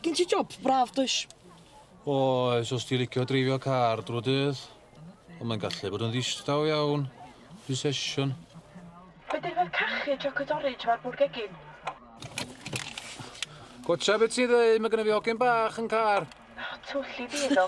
Gen ti job braf, does? Oes, os ti'n licio dreifio car drwy dydd. Ond mae'n gallu bod yn ddistaw iawn. Rhy sesiwn. Fe dyrfod cachu chocolate orange mae'r bwrdd gegin. Gotcha beth ti'n ddweud, mae gen i fi hogyn bach yn car. O, twll i fi iddo.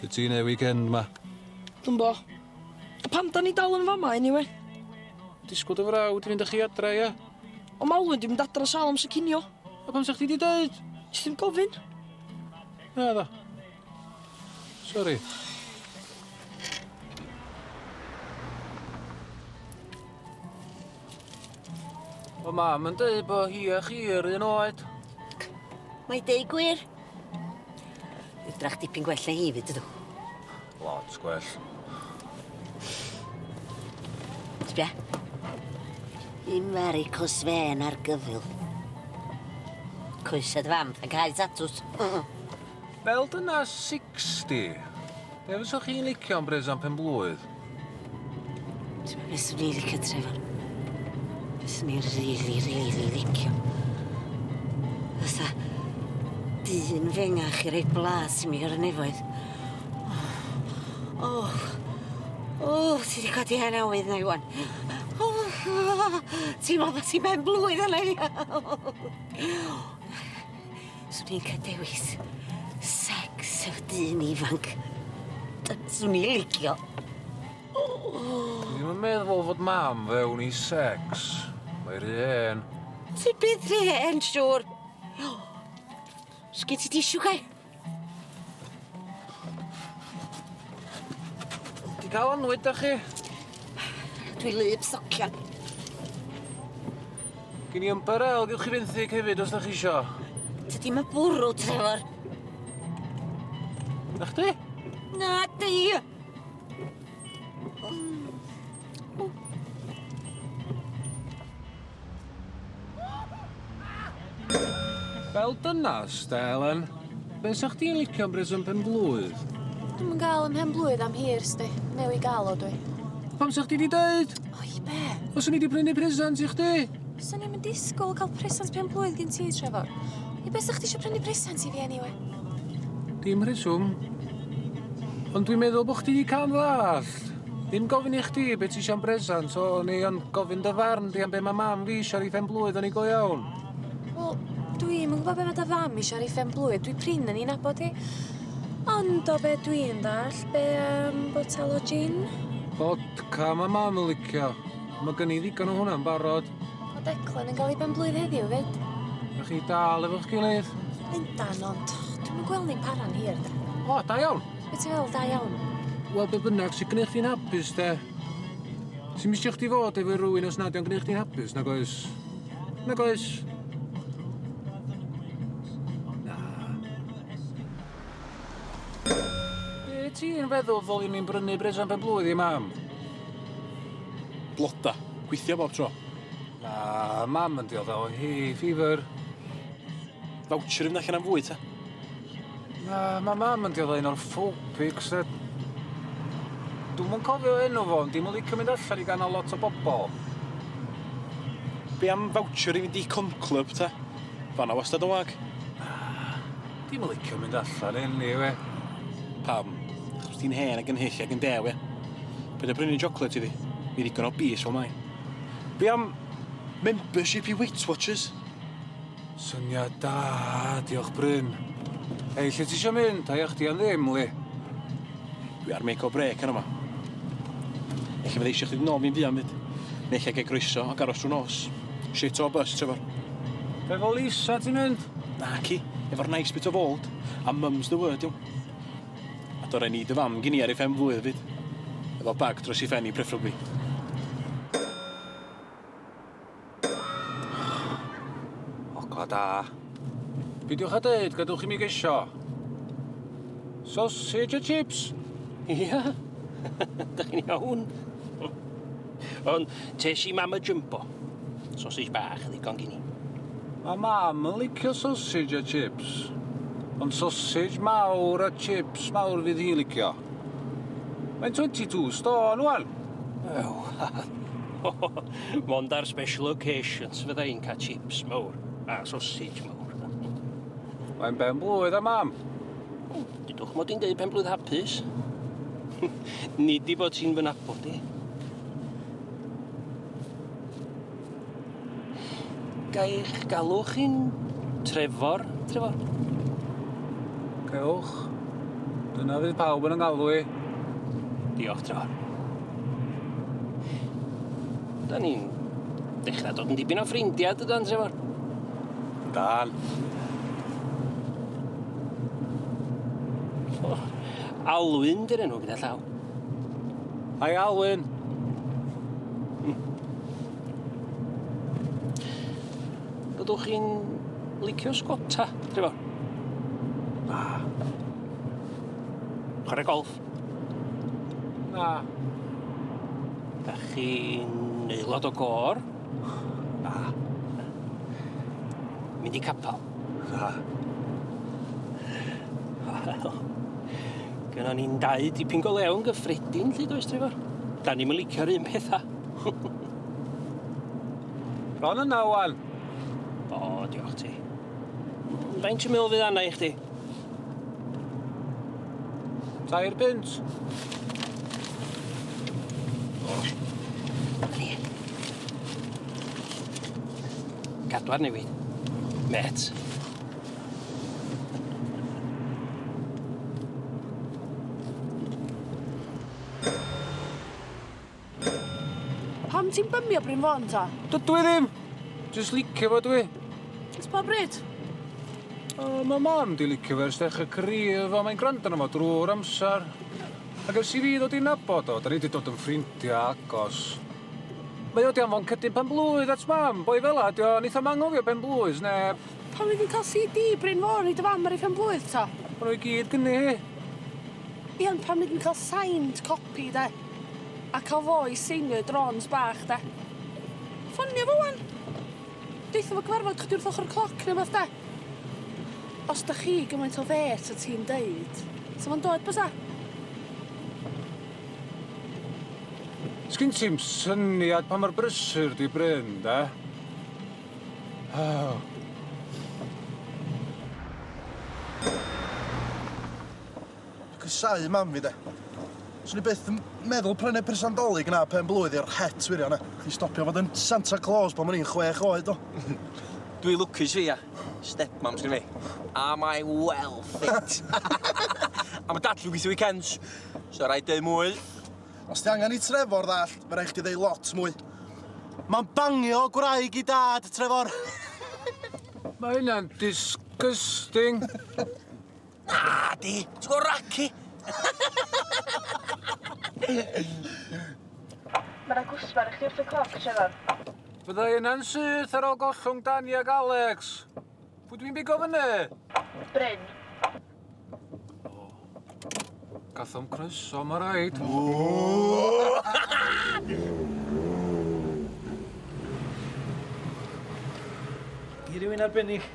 Be' ti'n neud weekend 'ma? Dwi'm bo. A pam 'dan ni dal yn fama eniwe? Disgwl dy frawd i fynd â chi adra ia? On' ma' Alun 'di mynd adra sal amser cinio. A pam sa chdi 'di deud? Nes i'm gofyn. Naddo. Sori. Mae mam yn dweud bod hi a chi yr un oed. Mae deu gwir. Ydrach dipyn gwell na hi, fyd ydw. Lot gwell. Sbia. Dim fari cos fen ar gyfil. Coesed fam, a cael tatws. Fel dyna 60. Be fyswch chi'n licio am Brezan Penblwydd? Ti'n meddwl beth i'n licio, Trevor? Beth i'n rili, rili licio? Fysa dyn fengach i roi blas i mi ar y nefoedd. O, oh, o, oh, ti wedi codi hen awydd na iwan. O, ti'n meddwl bod ti'n ben blwydd yna i ni? Swn i'n cael dewis secs efo dyn ifanc. Swn i'n licio. Dwi'n yn meddwl fod mam fewn i secs. Mae rhy hen. Ti byth rhy hen, siŵr. Sgyn ti tisio, Kai? Ti dal am lwyd da chi? Dwi lyb socian. Gin i ymbarel, gywch chi fenthyg hefyd os da chi isio. Tydi ma bwrw, Trevor. Na chdi? Na di! Wel dynas, da Elen. Be' sa chdi'n licio am bresant pen-blwydd? Dwi'm yn ga'l 'yn mhen-blwydd am hir, sdi. Newy' ga'l o dwi. Pam sa chdi 'di deud? O i be'? Os o'n i 'di prynu presant i chdi! Swn i'm yn disgwl ca'l presant pen-blwydd gin ti, Trefor. I be' sa chdi isio prynu presant i fi eniwe? Dim rheswm. Ond dwi'n meddwl bo' chdi 'di ca'l 'n ddall. Ddim gofyn i chdi be' ti isio am bresant so o'n i yn gofyn dy farn di am be' ma' mam fi isio ar 'i phen-blwydd o'n i go iawn? Wel dwi'm yn gwbo be' ma' dy fam isio ar 'i phen-blwydd dwi prin yn 'i nabod hi. Ond o be' dwi'n ddall' be' am botel o jin? Fodca ma' mam yn licio. Ma' gen i ddigon o hwnna'n barod. Ma' Declan yn ga'l 'i ben-blwydd heddiw 'fyd. A chi dal efo'ch gilydd? Yndan ond dwi'm yn gwel' ni'n para'n hir de? O da iawn. Be' ti'n feddwl, da iawn? Wel be' bynnag sy gneud chdi'n hapus de? Ti'm isio chdi fod efo rywun os nad 'di o'n gneud chdi'n hapus, nag oes? Nag oes? Na. Be' ti'n feddwl ddoliwn ni'n brynu bres am ben-blwydd i mam? Bloda. Gweithio bob tro. Na, mam yn diodda' o hay fever. Voucher i fynd allan am fwyd ta? Na, ma' mam yn dioddef un o'r phobics yy. Dwi'm yn cofio enw fo ond di'm yn licio mynd allan i ganol lot o bobol. Be' am voucher i fynd i Cwm Clwb ta? Fan'na wastad yn wag. Na, di'm yn licio mynd allan eniwe. Pam? Achos ti'n hen ag yn hyll ag yn dew ia? Paid â prynu chocolate iddi. Mi ddigon o bys fel mae. Be' am membership i Weight Watchers? Syniad da, diolch Bryn. Hei, lle ti isio mynd? Haia chdi am ddim, Lee. Dwi ar make or break ar yma. Ella fydda eisiau chdi nôl fi'n fuan fyd. Neu lle gael groeso ac aros trwy nos. Shit o bus, Trevor. Be fo Lisa ti'n mynd? Na ci, efo'r nice bit of old. A mum's the word, iawn. A do rai ni dy fam gini ar ei ffen flwydd fyd. Efo bag dros ei ffen i, preferably. Ogla da. Pidiwch a deud, gadwch i mi gesio. Sausage a chips? Ia? Dych chi'n iawn? Ond tes i mam y jumbo. Sausage bach, ddigon gini. Mae mam yn licio sausage a chips. Ond sausage mawr a chips mawr fydd hi'n licio. Mae'n 22 stôn, wan. Ew. Mond ar special occasions fydda i'n cael chips mawr a sausage mawr. Mae'n ben blwydd a mam. Dydwch mod i'n deud pen blwydd hapus. Nid i bod ti'n fy nabod i. Gaich galw chi'n Trevor, Trevor? Cewch. Dyna fydd pawb yn yng ngalw i. Diolch, Trevor. Da ni'n dechrau dod yn dipyn o ffrindiau, dydan, Trevor? Dan. Oh, Alwyn, dy'r enw gyda llaw. Hi, Alwyn. Byddwch chi'n licio sgota, Trevor? Na. Chwarae golf. Na. Da chi'n aelod o gor? Na. Mynd i capel? Na. Wel, gynnon ni'n dau dipyn go lewn gyffredin, lle does, Trevor? Da ni'n licio'r un pethau. Bron yna, wan. O, diolch ti. Faint ti'n meddwl fydd anna i chdi? Tair punt. Cadw arni fi. Met. Pam ti'n bymio Bryn Fôn ta? Dydw i ddim! Jyst licio fo dwi. Ers pa bryd? O, mae mam di licio fe ers dechrau career fo, mae'n gwrando arno fo drwy'r amser. Ac ers i fi ddod i nabod o, da ni di dod yn ffrindiau agos. Mae o di anfon cydyn pen blwydd at mam, boi fela ydi o, neith o'm anghofio pen blwydd, neb. Pam ydyn ni'n cael CD Bryn Fôn i dy fam ar ei phen blwydd ta? O'n nhw i gyd gynni hi. Ie, ond pam ydyn ni'n cael signed copy de? A cael fo i seinio i drôns bach de. Ffonio fo ŵan. Deutha fo cyfarfod chdi wrth ochr y cloc neu wbath de. Os dych chi gymaint o fêt a ti'n deud, 'sa fo'n dod bysa? Sgin ti'm syniad pa mor brysur 'di Bryn de. Aww. Casau mam fi de. Swn i byth yn meddwl prynu person dolig na pen blwydd i'r het wirio na. Chdi stopio fod yn Santa Claus pan o'n i'n chwech oed do? Dwi lwcus fi a stepmom sgyn fi. Am I well fit? a ma dad yn gweithio weekends, so raid deud mwy. Os ti angen i Trefor ddallt, fe rai chdi ddeud lot mwy. Ma'n bangio gwraig i dad, Trefor. Mae hynna'n disgusting. Na, di. Ti'n gwybod Raki? Mae yna gwsmer i chdi wrth y cloc, Trevor. Fydda i yna'n syth ar ôl gollwng Dani ac Alex. Pwy dwi'n bigo fyny? Bryn. Gathom croeso, mae rhaid. Di rhywun arbennig?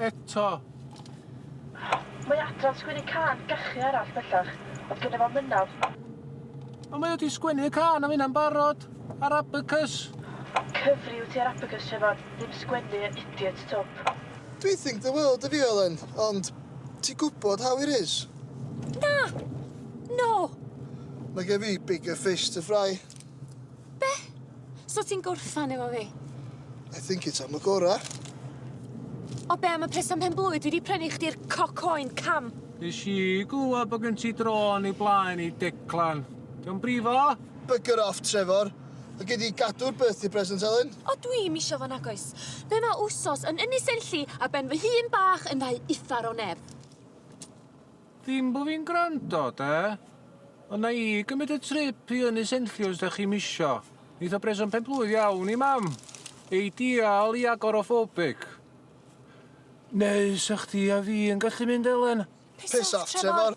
Eto. Mae Adran sgwennu cân gachu arall bellach, oedd gynno fo mynadd. Ond mae o 'di sgwennu y cân am hynna'n barod, ar Abacus. Cyfri wyt ti ar Abacus, Siafan, ddim sgwennu y idiot twp. Dwi think the world of you Elen, ond ti gwbod how it is. Na! No! Mae gen fi bigger fish to fry. Be? So ti'n gorffan efo fi? I think it's am y gora. O be am y pres am pen blwydd dwi di prynu chdi'r cocoen cam? Nes i glwad bod gen ti drôn i blaen i Declan. Diolch brifo? Bugger off, Trevor. Mae gen i gadw'r birthday present, Elen. O, dwi im isio fo nagoes. Be mae wsos yn ynys enlli a ben fy hun bach yn ddau uffar o neb. Ddim bo fi'n gwrando, de? Ond na i gymryd y trip i Ynys Enlli os dach chi'm isio. Neith o breso'n penblwydd iawn i mam. Eidial i agoraphobic. Neu sa chdi a fi yn gallu mynd Elen? Piss off Trevor!